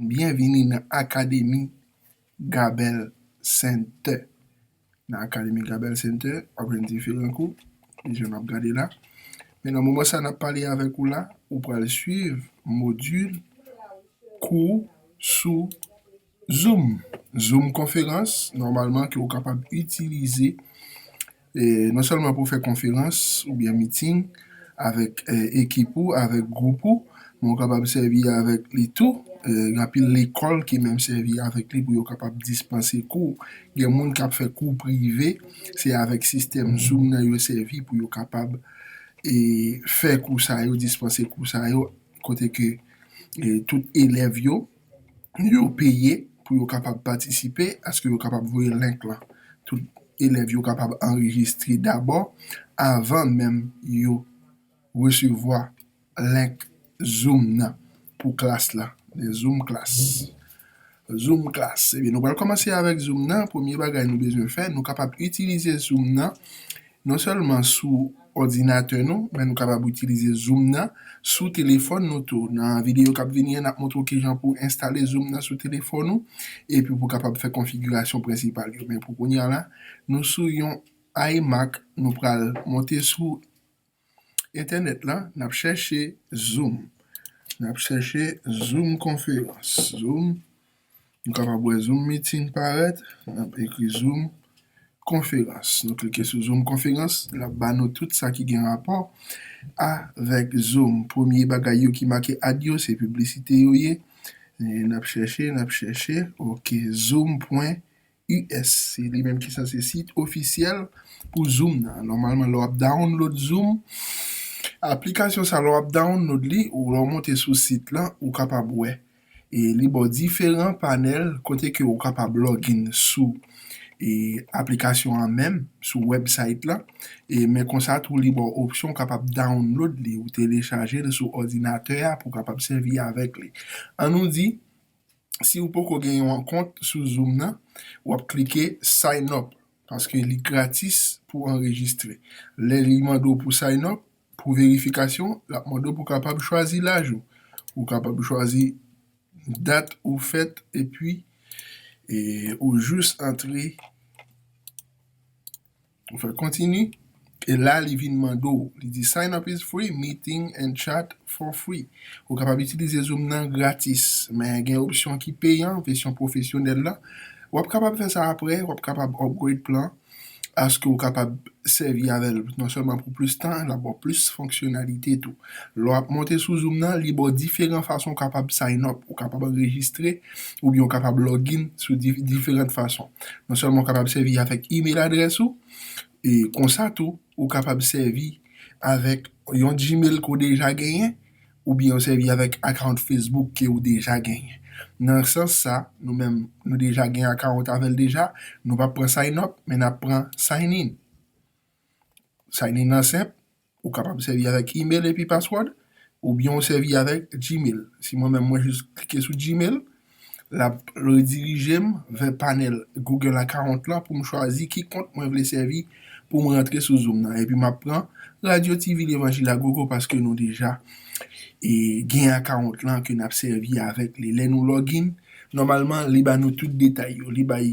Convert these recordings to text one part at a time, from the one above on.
Byenvini nan Akademi Gabèl Sentè. Nan Akademi Gabèl Sentè, w ap jwenn diferan kou, jan n ap gade la. Men nan moman sa n ap pale avèk ou la, ou pral suiv modil kou sou. Zoom, Zoom konferans, nòmalman ke ou kapab itilize non sèlman pou fè konferans oubyen meeting avèk ekip ou, avèk gwoup ou, men ou kapab sèvi avèk li tou, gen anpil lekòl ki menm sèvi avèk li pou yo kapab dispanse kou, gen moun k ap fè kou prive, se avèk sistèm Zoom nan yo sèvi pou yo kapab fè kou sa yo, dispanse kou sa yo, kote ke tout elèv yo. yo peye pou yo kapab patisipe aske yo kapab voye link lan tout elèv yo kapab anrejistre dabò avan menm yo resevwa link zoom nan pou klas la le zoom klas zoom klas ebyen nou pral kòmanse avèk zoom nan premye bagay nou bezwen fè nou kapab itilize zoom nan non sèlman sou òdinatè nou, men nou kapab itilize zoom nan sou telefòn nou tou. Nan videyo k ap vini an, n ap montre w kijan pou w enstale zoom nan sou telefòn ou epi pou w kapab fè konfigirasyon prensipal yo. Men pou kounye a la, nou sou yon iMac, nou pral monte sou entènèt lan, n ap chèche zoom, n ap chèche zoom konferans, zoom Nou kapab wè Zoom Meeting parèt, n ap ekri Zoom Konferans. Nou klike sou Zoom Konferans, l ap ba nou tout sa ki gen rapò avèk Zoom. Premye bagay yo ki make Ad yo, se piblisite yo ye. N ap chèche, n ap chèche, ok, Zoom pwen. us se li menm ki sanse sit ofisyèl pou zoom nan nòmalman lè wap download zoom aplikasyon sa lè wap download li ou lè w monte sou sit lan ou kapab wè e li ba w diferan panèl kote ke ou kapab login sou e aplikasyon an menm sou website lan e men konsa tou li ba w opsyon ou kapab download li ou telechaje l sou òdinatè a pou w kapab sèvi avèk li an nou di si ou poko gen yon kont sou zoom nan wap klike sign up paske li gratis pou anrejistre lè li mande w pou sign up pou verifikasyon lap mande w pou kapab chwazi laj ou ou kapab chwazi dat ou fèt epi ou jus antre. Ou fè continue e la li vin mande w li di sign up is free meeting and chat for free ou kapab itilize zoom nan gratis men gen opsyon ki peyan vèsyon pwofesyonèl la wap kapab fè sa aprè wap kapab upgrade plan aske ou kapab sèvi avèl non sèlman pou plis tan lap baw plis fonksyonalite tou lè wap monte sou zoom nan li baw diferan fason ou kapab sign up ou kapab anrejistre oubyen ou kapab login sou diferant fason. Non sèlman ou kapab sèvi avèk email adrès ou, e konsa tou ou kapab sèvi avèk yon gmail ke w deja genyen, oubyen ou sèvi avèk account Facebook ke ou deja genyen. Nan sans sa, nou menm nou deja gen account avè l deja, nou pap pran sign up, men nap pran sign in. Sign in nan senp, Ou kapab sèvi avèk email epi password oubyen ou sèvi avèk gmail. Si mwen menm mwen jis klike sou gmail lap redirijem vè panèl google account lan poum chwazi ki kont mwen vle sèvi poum rantre sou zoom nan epi map pran radio TV levanjil agogo paske nou deja gen account lan ke nap sèvi avèk li lè nou login nòmalman li ba nou tout detay yo li bay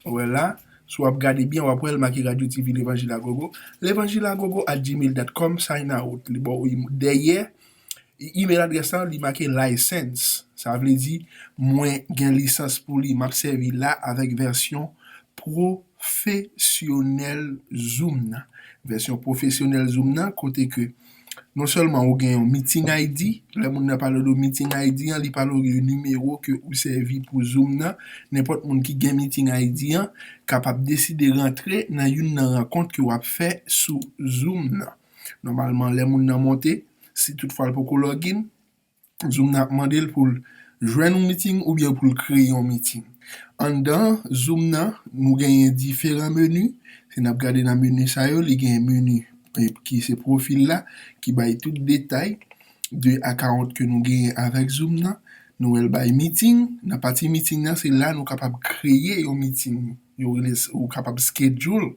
wè la. Si w ap gade byen w ap wè l make Radio TV Levanjil a Gogo, levanjilagogo at gmail dot com sign out li ba w dèyè email adrès la li make license sa vle di mwen gen lisans pou li m ap sèvi la avèk vèsyon pwofesyonèl zoom nan vèsyon pwofesyonèl zoom nan kote ke Non sèlman ou gen yon meeting ID, lè moun nan pale de meeting ID an, li pale ou de nimewo ke ou sèvi pou zoom nan, nenpòt moun ki gen meeting ID an kapab deside rantre nan youn nan rankont ke w ap fè sou zoom nan. Nòmalman lè moun nan monte, si tout fwa l poko login, Zoom nan ap mande l pou l jwenn yon meeting oubyen pou l kreye yon meeting. Anndan zoom nan, nou genyen diferan meni. Si n ap gade nan meni sa yo, li genyen meni ki se pwofil la ki bay tout detay de akawont ke nou genyen avèk zoom nan. Nou wè l bay meeting. Nan pati meeting nan, se la nou kapab kreye yon meeting. yo rele ou kapab schedule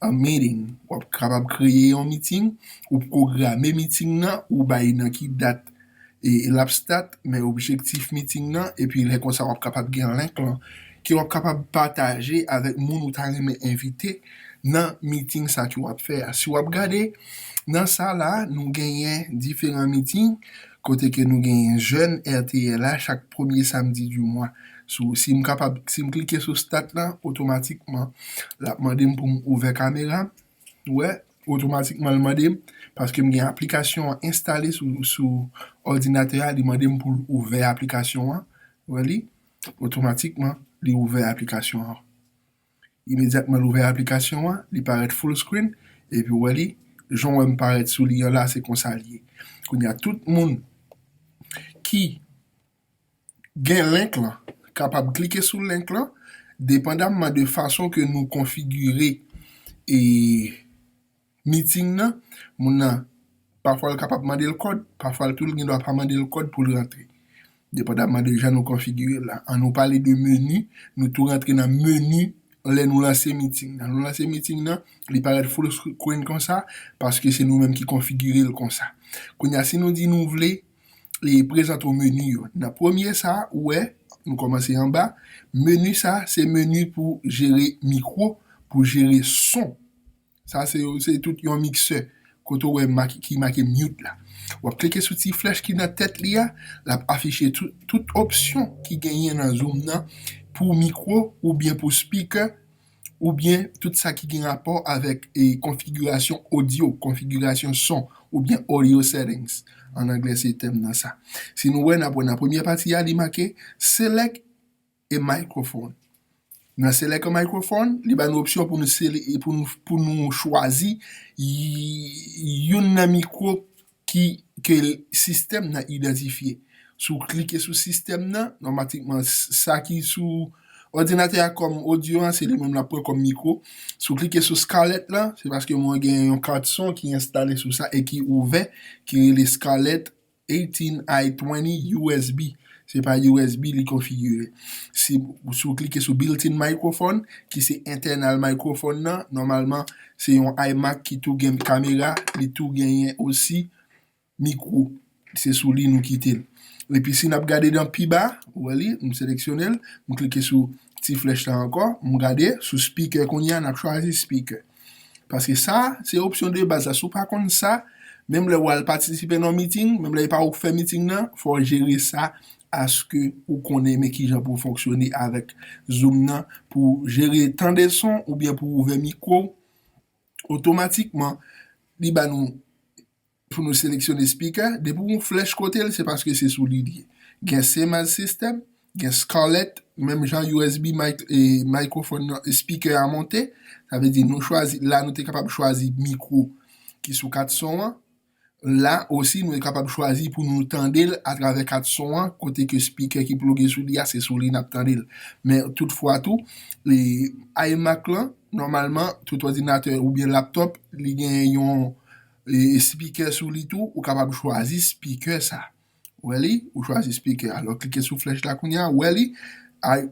a meeting wap kapab kreye yon meeting ou pwograme meeting nan ou bay nan ki dat e lap start men objektif meeting nan epi lè konsa wap kapab gen link lan ke wap kapab pataje avèk moun ou ta renmen envite nan meeting sa ke wap fè a si wap gade nan sa la nou genyen diferan meeting Kote ke nou genyen jèn rtl a chak premye samdi di mwa. Sou si m kapab si m klike sou stat lan otomatikman l ap mande m pou m ouvè kamera m. Ou wè? Otomatikman l mande m paske m gen aplikasyon an enstale sou sou òdinatè a li mande m pou l ouvè aplikasyon an. Ou wè li? Otomatikman li ouvè aplikasyon an. Imedyatman l ouvè aplikasyon an, li parèt full screen, epi w wè li, jan w wè m parèt sou li an la, se konsa l ye. Kounye a tout moun ki gen link lan kapab klike sou link lan, depandamman de fason ke nou konfigire e. meeting nan, moun nan pafwa l kapab mande l kòd, pafwa l tou l gen dwa pa mande l kòd pou l rantre. Depandaman de jan nou konfigire l la. An nou pale de menu, nou tou rantre nan menu lè nou lanse meeting nan. Nou lanse meeting nan, li parèt full screen konsa, paske se nou menm ki konfigire l konsa. Kounye a, si nou di nou vle e prezante w menu yo. Nan premye sa, ou wè, nou kòmanse anba, menu sa, se menu pou jere mikwo, pou jere son. Sa se yo se tout yon miksè kote ou wè make ki make mute la wap klike sou ti flèch ki nan tèt li a lap afiche tout tout opsyon ki genyen nan zoom nan pou mikwo oubyen pou speaker oubyen tout sa ki gen rapò avèk e konfigirasyon audio konfigirasyon son oubyen audio settings an anglè se tèm nan sa si nou wè nap wè nan premyè pati a li make select E microphone? Nan select a microphone, li ba nou opsyon pou nou sele, pou nou, pou nou chwazi youn nan mikwo ki, ke sistèm nan idantifye. Si w klike sou sistèm nan, nòmatikman sa ki sou òdinatè a kòm odyo an, se li menm l ap pran kòm mikwo. Si w klike sou scarlett lan, se paske mwen gen yon kat son ki enstale sou sa e ki ouvè, ki rele scarlett. 18 ay 20 usb se pa usb li konfigire si ou klike sou built in microphone ki se entènal microphone nan nòmalman se yon iMac ki tou gen kamera li tou genyen osi mikwo se sou li nou kitel epi si nap gade nan pi ba ou wè li m seleksyonel m klike sou ti flèch la ankò m gade sou speaker kounya nap chwazi speaker. Paske sa, se opsyon de baz la. Si w pa konn sa, menm lè wal patisipe nan yon meeting, menm lè e pa ou ki fè meeting nan, fò w jere sa aske ou konnen men kijan pou w fonksyone avèk zoom nan pou w jere tande son oubyen pou w ouvè mikwo w. Otomatikman, li ba nou. Pou nou seleksyone spikè, depi w gen yon flèch kote l, se paske se sou li l ye. Gen Sennheiser System, gen Scarlett, menm jan usb mic e mikrofòn nan, spikè a monte, sa vle di nou chwazi, la nou te kapab chwazi mikwo ki sou kat son an, la osi nou te kapab chwazi pou nou tande l atravè kat son an, kote ke spikè ki ploge sou li a, se sou li n ap tande l. Men tout fwa tou, iMac lan, nòmalman, tout òdinatè oubyen laptòp, li gen yon. Speaker sou li tou ou kapab chwazi speaker sa ou wè li ou chwazi speaker a lè klike sou flèch la kounya ou wè li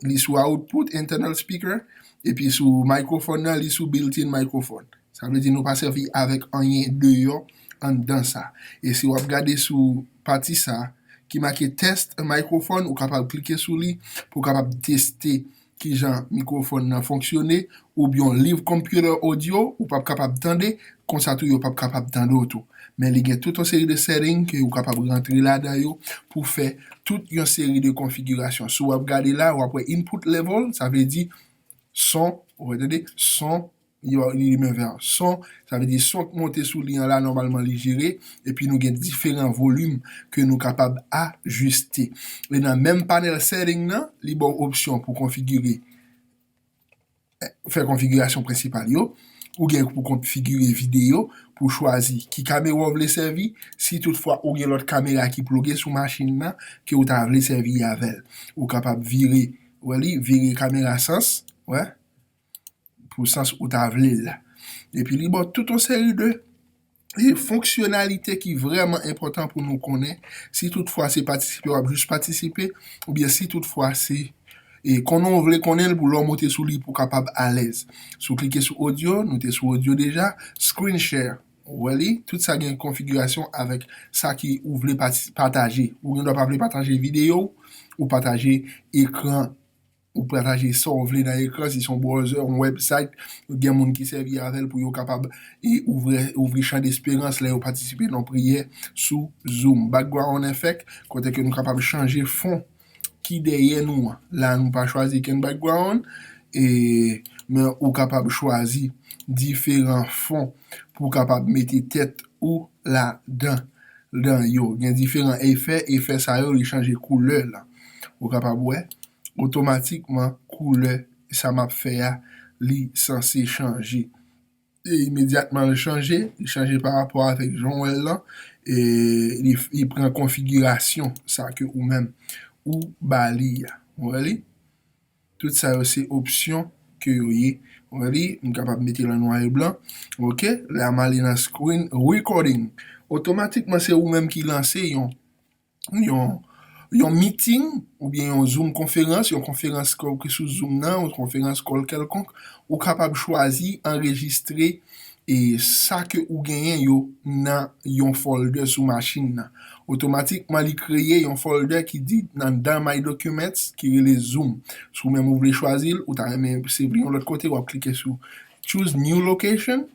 li sou output internal speaker epi sou microphone nan li sou built in microphone sa vle di nou pa sèvi avèk anyen deyò anndan sa e si wap gade sou pati sa ki make test microphone ou kapab klike sou li pou kapab teste kijan mikrofòn nan fonksyone, oubyen yon live computer audio ou pap kapab tande, konsa tou yo pap kapab tande w tou. Men li gen tout yon seri de setting ke ou kapab rantre ladan yo pou fè tout yon seri de konfigirasyon. Si w ap gade la, w ap wè input level, sa vle di son, ou wè tande, son, yon limè vè son, sa vle di son k monte sou li an la nòmalman li jere, epi nou gen diferan volim ke nou kapab ajiste. E nan menm panèl setting nan, li ba w opsyon pou konfigire, fè konfigirasyon prensipal yo, ou gen pou konfigire videyo, pou w chwazi ki kamera w vle sèvi, si tout fwa ou gen lòt kamera ki ploge sou machin nan ke ou ta vle sèvi avè l. Ou kapab vire, wè li, vire kamera sans, wè, pou sans ou ta vle l la. Epi li ba w tout yon seri de fonksyonalite ki vrèman enpòtan pou nou konnen si tout fwa se patisipe w ap jis patisipe oubyen si tout fwa se konnen w vle konnen l pou lè w monte sou li pou w kapab alèz. Si w klike sou odyo, nou te sou odyo deja, screen share, ou wè li, tout sa gen konfigirasyon avèk sa ki ou vle pataje. Ou gen dwa pa vle pataje videyo w, ou pataje ekran. Ou prataje sa w vle nan ekran, si se yon browser, yon website, gen moun ki sèvi avè l pou yo kapab ouvri chan desperans lè yo patisipe nan yon priyè sou Zoom. Background effect, kote ke nou kapab chanje fon ki dèyè nou an. La nou pa chwazi kenn background, men ou kapab chwazi diferan fon pou w kapab mete tèt ou ladan yo. Gen diferan efè, efè sa yo li chanje koulè lan. Ou kapab wè, otomatikman koulè sa m ap fè a li sanse chanje. E imedyatman l chanje, li chanje parapò avèk jan w wè l lan, e li pran konfigirasyon sa ke ou menm ou ba li a. Ou wè li? Tout sa yo se opsyon ke yo ye. Ou wè li? M kapab mete l an nwa e blan. Ok, la m ale nan screen recording. Otomatikman se ou menm ki lanse yon yon meeting oubyen yon zoom konferans, yon konferans kòl ki sou zoom nan, yon konferans kòl kèlkonk, ou kapab chwazi anrejistre e sa ke ou genyen yo nan yon folder sou machin nan. Otomatikman li kreye yon folder ki di nan dan my documents ki rele zoom. Si ou menm ou vle chwazi l, ou ta renmen se vle yon lòt kote, wap klike sou choose new location,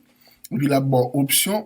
epi lap baw opsyon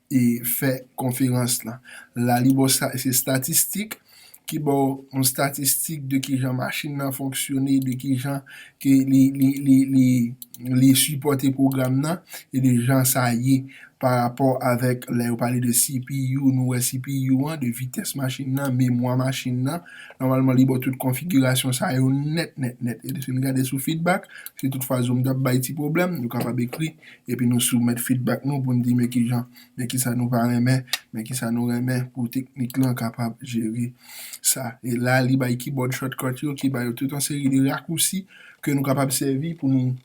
e fè konferans lan. La li baw sa se statistik ki baw yon statistik de kijan machin nan fonksyone, de kijan ke li li li li li sipòte pwogram nan e de jan sa ye pa rapò avèk lè yo pale de CPU nou wè CPU an, de vitès machin nan, memwa machin nan. Nòmalman li baw tout konfigirasyon sa yo nèt nèt nèt. E lèfin gade sou fidbak, si tout fwa zoom tap bay ti pwoblèm, nou kapab ekri Epi nou soumèt fidbak nou pou n di men kijan, men kisa nou pa renmen, men kisa nou renmen pou teknik lan kapab jere sa. E la li bay kibòd shortcut yo ki ba yo tout yon seri de rakousi ke nou kapab sèvi pou nou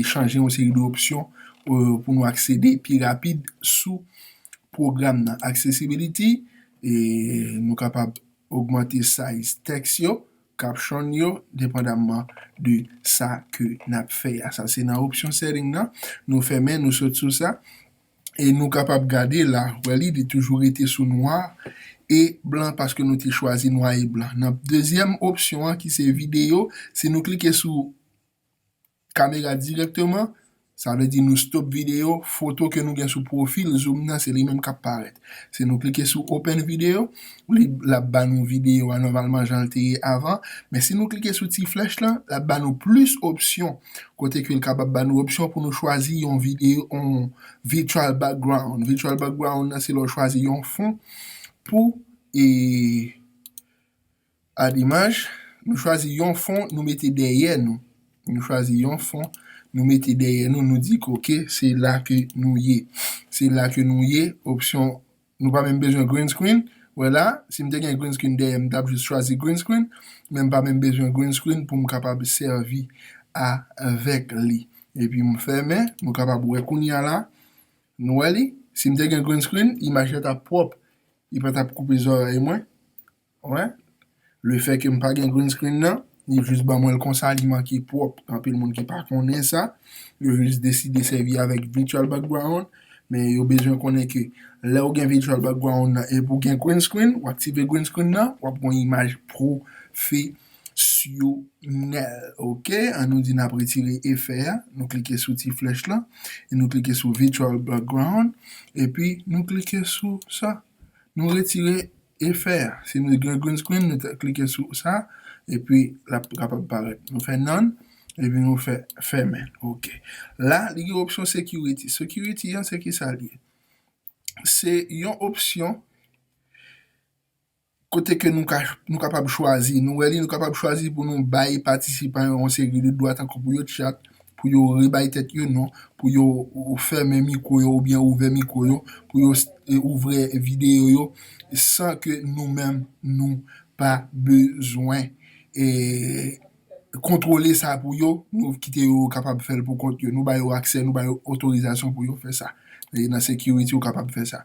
chanje yon seri de opsyon pou nou aksede pi rapid sou pwogram nan. Accessibility, nou kapab ogmante size tèks yo Caption yo depandamman de sa ke nap fè a. Sa se nan option setting nan, nou fèmen nou sot sou sa e nou kapab gade la, wè li li toujou rete sou nwa e blan paske nou te chwazi nwa e blan. Nan dezyèm option an ki se video, si nou klike sou. Kamera dirèkteman, sa vle di nou stop videyo, foto ke nou gen sou pwofil zoom nan se li menm kap parèt. Si nou klike sou open video, li lap ba nou videyo a nòmalman jan l te ye avan, men si nou klike sou ti flèch lan, lap ba nou plis opsyon, kote ke l kapab ba nou opsyon pou nou chwazi yon videyo yon virtual background, virtual background nan se lè w chwazi yon fon pou e. A Imaj, Nou chwazi yon fon nou mete dèyè nou. Nou chwazi yon fon nou mete dèyè nou, nou di ke ok se la ke nou ye. Se la ke nou ye, opsyon Nou pa menm bezwen green screen, wè la, si m te gen green screen dèyè m, m t ap jis chwazi green screen, men m pa menm bezwen green screen pou m kapab sèvi avèk li. Epi m fèmen, nou kapab wè kounye a la, nou wè li? Si m te gen green screen, imaj la t ap pwòp, li pa t ap koupe zòrèy mwen. Alright Le fait ke m pa gen green screen nan Li jus ban mwen l konsa li manke pwòp Anpil moun ki pa konnen sa Yo jus deside sèvi avèk Virtual Background Men yo bezwen konnen ke Lè ou gen Virtual Background nan epi ou gen green screen Ou aktive green screen nan W ap gon imaj pwofesyonèl Ok An nou di n ap retire efè a Nou klike sou ti flèch lan E nou klike sou Virtual Background Epi nou klike sou sa Nou retire Efè, si nou gen green screen nou te klike sou sa epi lap kapab parèt. Nou fè none epi nou fè fèmen ok. La li gen opsyon security, security an se kisa li ye? Se yon opsyon kote ke nou ka nou kapab chwazi nou wè li nou kapab chwazi pou nou bay patisipan yo yon seri de dwa tankou pou yo tchat, pou yo rebay tèt yo non, pou yo fèmen mikwo yo oubyen ouvè mikwo yo, pou yo ouvè videyo yo san ke nou menm nou pa bezwen kontwole sa pou yo, nou kite yo yo kapab fè l pou kont yo, nou ba yo aksè, nou ba yo otorizasyon pou yo fè sa. Nan sekiriti yo kapab fè sa.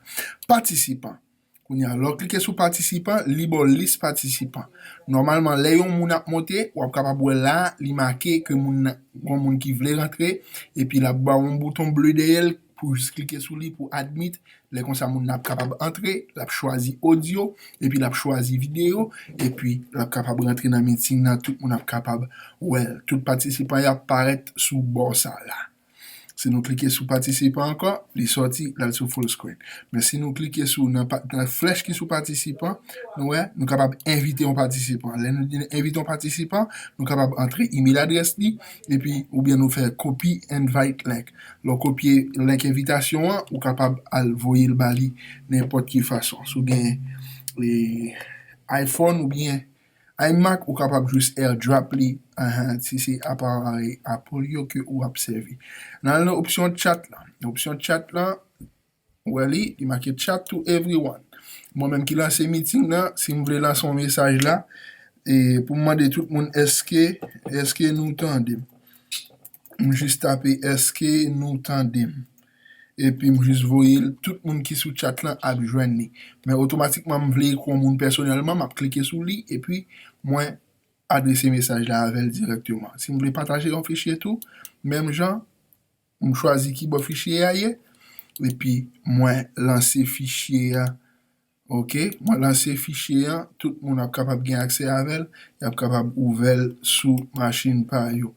Patisipan. Kounye a, lè w klike sou patisipan, li ba w lis patisipan. Nòmalman, lè yon moun ap monte, w ap kapab wè la a, li make ke moun nan, gon moun ki vle rantre, epi l ap ba w yon bouton ble dèyè l, pou w jis klike sou li pou admit, lè konsa moun nan ap kapab antre, l ap chwazi odyo, epi l ap chwazi videyo, epi l ap kapab rantre nan meeting nan, tout moun ap kapab wè l, tout patisipan yo ap parèt sou bò sa la a. Si nou klike sou patisipan ankò, li sòti, l al sou full screen. Men si nou klike sou nan flèch ki sou patisipan, nou wè, nou kapab envite yon patisipan. Lè nou di envite yon patisipan, nou kapab antre email adrès li, epi oubyen nou fè copy invite link. Lè w kopye link envitasyon an, ou kapab al voye l ba li nenpòt ki fason. Si w gen iPhone oubyen. Ay Mac ou kapab jus airdrop li ahan si se aparay Apple yo ke ou ap sèvi. Nan al nan opsyon chat lan. Nan opsyon chat lan ou wè li, li make chat to everyone. Mwen menm ki lanse meeting nan si m vle lanse yon mesaj la e pou m mande tout moun eske eske nou tande m. M jis tape eske nou tande m. epi m jis voye l tout moun ki sou chat lan ap jwenn li men otomatikman m vle ekri yon moun pèsonèlman map klike sou li epi mwen adrese mesaj la avè l dirèkteman si m vle pataje yon fichye tou menm jan m chwazi kibò fichye a ye epi mwen lanse fichye a. Ok mwen lanse fichye an tout moun ap kapab gen aksè avèl yap kapab ouvèl sou machin pa yo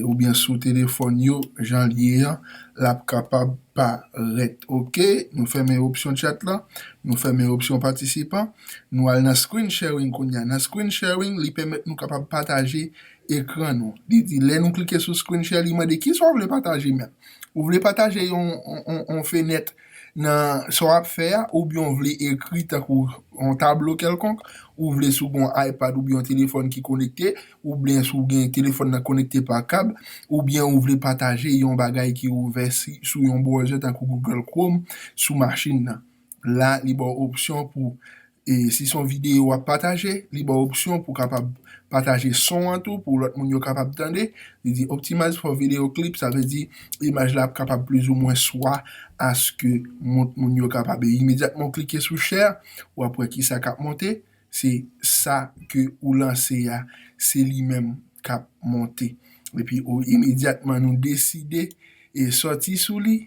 oubyen sou telefòn yo janl ye an lap kapab parèt ok nou fèmen opsyon chat lan nou fèmen opsyon patisipan nou al nan screen sharing kounya nan screen sharing li pèmèt nou kapab pataje ekran nou li di lè nou klike sou screen share li mande kisa ou vle pataje menm ou vle pataje yon fenèt Nan sa w ap fè a, oubyen w vle ekri tankou yon tablo kèlkonk, ou vle si w gen yon iPad oubyen yon telefòn ki konekte, oubyen si w gen telefòn nan konekte pa kab, oubyen ou vle pataje yon bagay ki ouvè sou yon browser tankou Google Chrome sou machin nan. La li ba w opsyon pou E si son videyo wap pataje, li baw opsyon pou kapab pataje son an tou pou lòt moun yo kapab tande. Li di optimize for video clip, sa vle di imaj la ap kapab plizoumwen swa aske mount moun yo kapab. E imedyatman ou klike sou share, wap wè kisa kap monte, se sa ke ou lanse a, se li menm kap monte. Epi ou imedyatman nou deside e sòti sou li.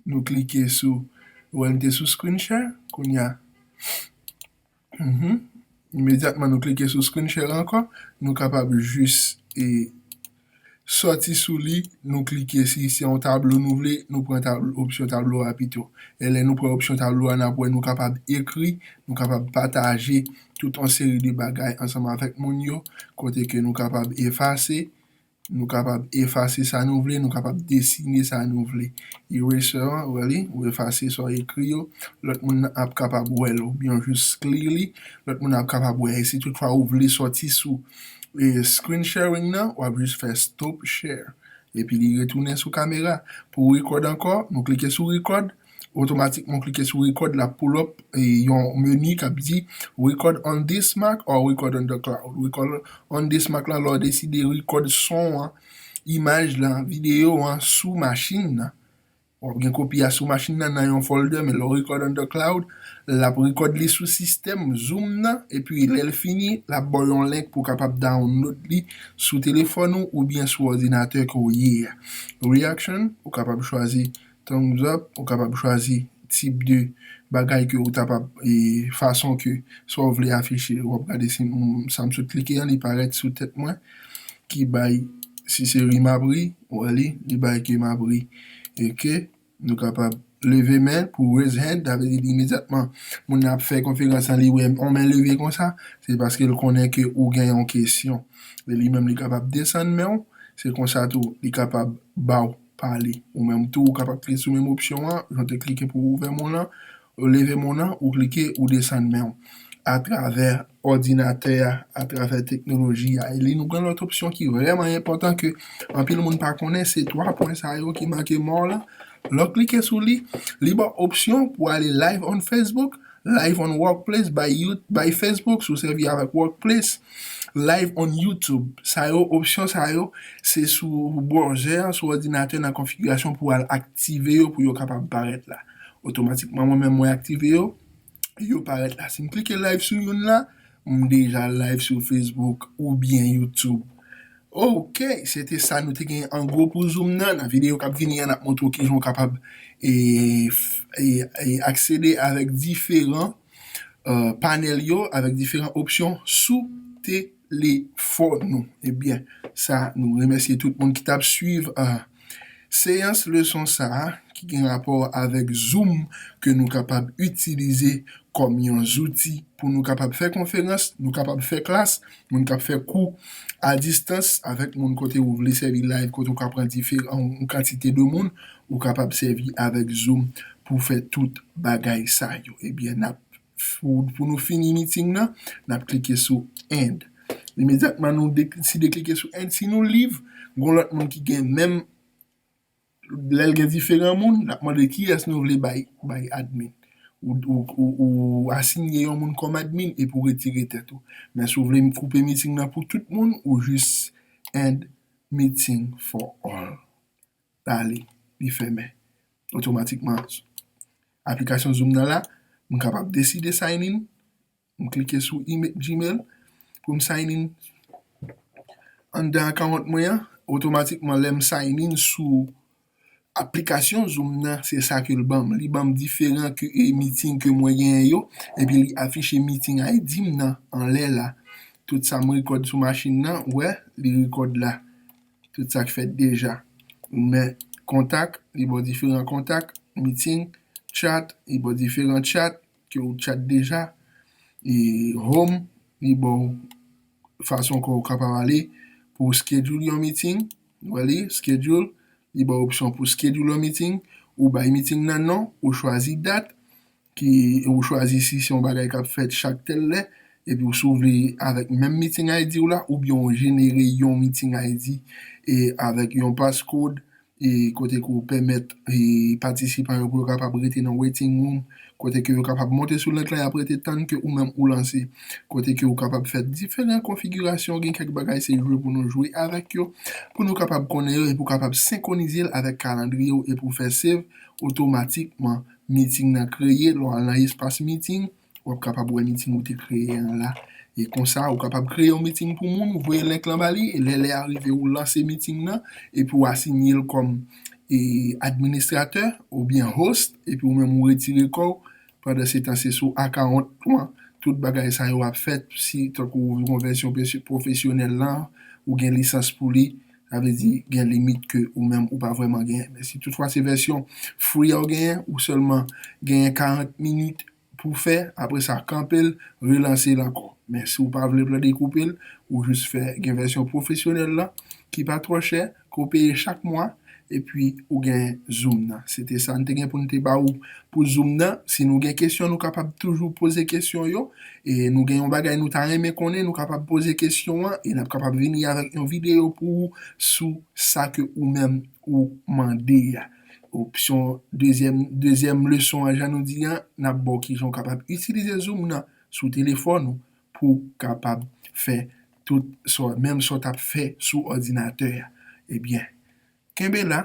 Nou klike sou ou wè li te sou screen share kounya imedyatman nou klike sou screen share ankò nou kapab jis e sòti sou li nou klike si se yon tablo nou vle nou pran opsyon tablo a pito e lè nou pran opsyon tablo a n ap wè nou kapab ekri nou kapab pataje tout yon seri de bagay ansanm avèk moun yo kote ke nou kapab efase Nou kapab efase sa nou vle, nou kapab desine sa nou vle. Eraser an, wè li, ou efase sa w ekri yo, lòt moun nan ap kapab wè l oubyen ou jis clear li, lòt moun nan ap kapab wè. E si tout fwa ou vle sòti sou screen sharing nan, w ap jis fè stop share. Epi li retounen sou kamera. Pou record ankò, nou klike sou record. otomatikman w klike sou record lap pull up yon menu kap di record on this Mac or record on the cloud record on this Mac la lè w deside record son an imaj la video an sou machin nan wap gen kopi a sou machin nan nan yon folder men lè w record on the cloud lap record li sou sistèm zoom nan epi lè l fini lap baw yon link pou w kapab download li sou telefòn ou oubyen sou òdinatè ke w ye a reaction ou kapab chwazi Tankou egzanp, ou kapab chwazi tip de bagay ke ou ta pa, e fason ke sa ou vle afiche. Ou ap gade si sa m sot klike an li parèt sou tèt mwen, ki bay, si se ri m ap ri, ou wè li, li bay ke m ap ri. Ok, nou kapab leve men pou raise hand, sa vle di li imedyatman moun nan ap fè konferans lan li wè yon men leve konsa, se paske l konnen ke ou gen yon kesyon. Li menm li kapab desann men ou, se konsa tou li kapab ba ou. pale. Ou menm tou ou kapab klike sou menm opsyon an, jan w te klike pou w ouvè moun lan, ou leve moun lan, ou klike, ou desann men w. Atravè òdinatè a, atravè teknoloji a. Eli nou gen lòt opsyon ki vrèman enpòtan ke anpil moun pa konnen, se 3 pwen sa yo ki make mò w lan. Lè w klike sou li, li ba w opsyon pou ale live on Facebook, live on workplace by you, by Facebook, si w sèvi avèk workplace. Live on YouTube sa yo opsyon sa yo se sou browzè an sou òdinatè nan konfigirasyon pou al aktive yo pou yo kapab parèt la otomatikman mwen menm mwen aktive yo yo parèt la si m klike live sou youn la m deja live sou Facebook oubyen YouTube ok se te sa nou te gen an gwo pou zoom nan nan videyo kap vini an n ap montre w kijan w kapab e aksede avèk diferan. panèl yo avèk diferan opsyon sou telefòn ou. Ebyen sa nou remèsye tout moun ki tap swiv seyans leson sa ki gen rapò avèk zoom ke nou kapab itilize kòm yon zouti pou nou kapab fè konferans, nou kapab fè klas, Moun kap fè kou a distans avèk moun kote ou vle sèvi live kote ou ka pran diferan yon kantite de moun ou kapab sèvi avèk zoom pou fè tout bagay sa yo ebyen nap pou nou fini meeting nan nap klike sou end imedyatman nou deside klike sou end si nou live gon lòt moun ki gen menm Lèl gen diferan moun lap mande kiyès nou vle bay bay admin ou asinye yon moun kòm admin epi ou retire tèt ou men si w vle koupe meeting nan pou tout moun ou jis end meeting for all bali li fèmen otomatikman aplikasyon zoom nan la m kapab deside sign in M klike sou gmail pou m sign in anndan account mwen an. Otomatikman lè m sign in sou aplikasyon zoom nan se sa ke l ban m. Li ban m diferan ke meeting ke mwen genyen yo. Epi li afiche meeting ID m nan anlè la. Tout sa m rekòd sou machin nan ou wè li rekòd la. Tout sa k fèt deja. Ou men kontak li ba w diferan kontak, meeting, chat li ba w diferan chat. Ke ou chat deja e home li baw fason ke ou kapab ale pou ou schedule yon meeting ou wè li schedule li baw opsyon pou schedule yon meeting ou bay meeting nan non ou chwazi dat ki ou chwazi si se yon bagay kap fèt chak tèl lè epi ou si ou vle avèk menm meeting ID ou la oubyen ou jenere yon meeting ID e avèk yon passcode kote ke ou pèmèt patisipan yo pou yo kapab rete nan waiting room, kote ke yo kapab monte sou link la yap rete tann ke ou menm ou lanse, kote ke ou kapab fè diferan konfigirasyon, gen kèk bagay se jwe pou nou jwe avèk yo, pou nou kapab konnen yo epi ou kapab senkronize l avèk kalandriye ou epi ou fè save otomatikman, meeting nan kreye lè w al nan espas meeting. w ap kapab wè meeting ou te kreye an la. E konsa, ou kapab kreye yon meeting pou moun, ou voye link lan ba li, e lè lè a rive ou lanse meeting nan, epi ou asinye l kòm administratè oubyen host, epi ou menm ou retire kò w, pandansetan se sou account ou an tout bagay sa yo ap fèt, si tankou yon vèsyon pwofesyonèl lan, ou gen lisans pou li. Sa vle di gen limit ke ou menm ou pa vrèman genyen. Men si tout fwa se vèsyon free a ou genyen, ou sèlman genyen 40 minit pou fè, apre sa kanpe l, relanse l ankò. Men si ou pa vle pran dekoupe l, ou jis fè gen vèsyon pwofesyonèl la ki pa twò chè, ke w peye chak mwa, epi ou gen zoom nan. Se te sa n te gen pou n te ba ou Pou zoom nan, si nou gen kesyon nou kapab toujou poze kesyon yo, e nou gen yon bagay nou ta renmen konnen nou kapab poze kesyon an e n ap kapab vini avèk yon videyo pou ou sou sa ke ou menm ou mande a. Opsyon dezyèm dezyèm leson an jan nou di an, n ap ba w kijan ou kapab itilize zoom nan sou telefòn ou pou w kapab fè tout sa w menm sa w t ap fè sou òdinatè a. Ebyen. Kenbe la,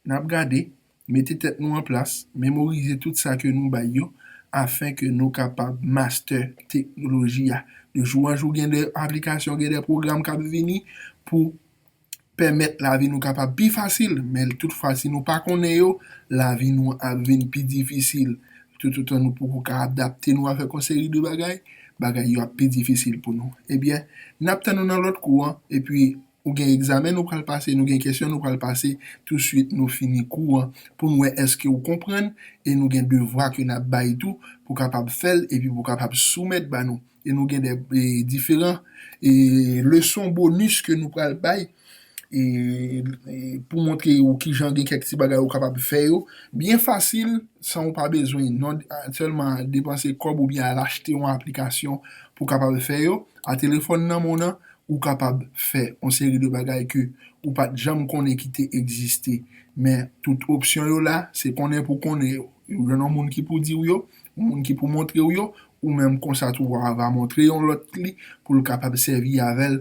n ap gade, mete tèt nou an plas, memorize tout sa ke nou bay yo, afin ke nou kapab master teknoloji a. De jou an jou gen de aplikasyon, gen de pwogram k ap vini pou pèmèt lavi nou kapab pi fasil, men tout fwa si nou pa konnen yo, lavi nou ap vin pi difisil. Toutotan nou poko ka adapte nou avèk yon seri de bagay, bagay yo ap pi difisil pou nou. Ebyen, n ap tann ou nan lòt kou an, epi. Ou gen egzamen nou pral pase, nou gen kesyon nou pral pase touswit nou fini kou an pou n wè èske ou konprann e nou gen devwa ke n ap bay tou pou kapab fè l epi pou kapab soumèt ba nou. E nou gen de diferan leson bonis ke nou pral bay pou montre ou kijan gen kèk ti bagay ou kapab fè yo byen fasil san ou pa bezwen non sèlman depanse kòb oubyen al achte yon aplikasyon pou kapab fè yo a telefòn nan men w nan Ou kapab fè yon seri de bagay ke ou pat janm konnen ki te egziste. Men tout opsyon yo la, se konnen pou konnen yo. Ou jwenn yon moun ki pou di ou yo, yon moun ki pou montre ou yo, ou menm konsa tou wa va montre yon lòt li pou l kapab sèvi avè l.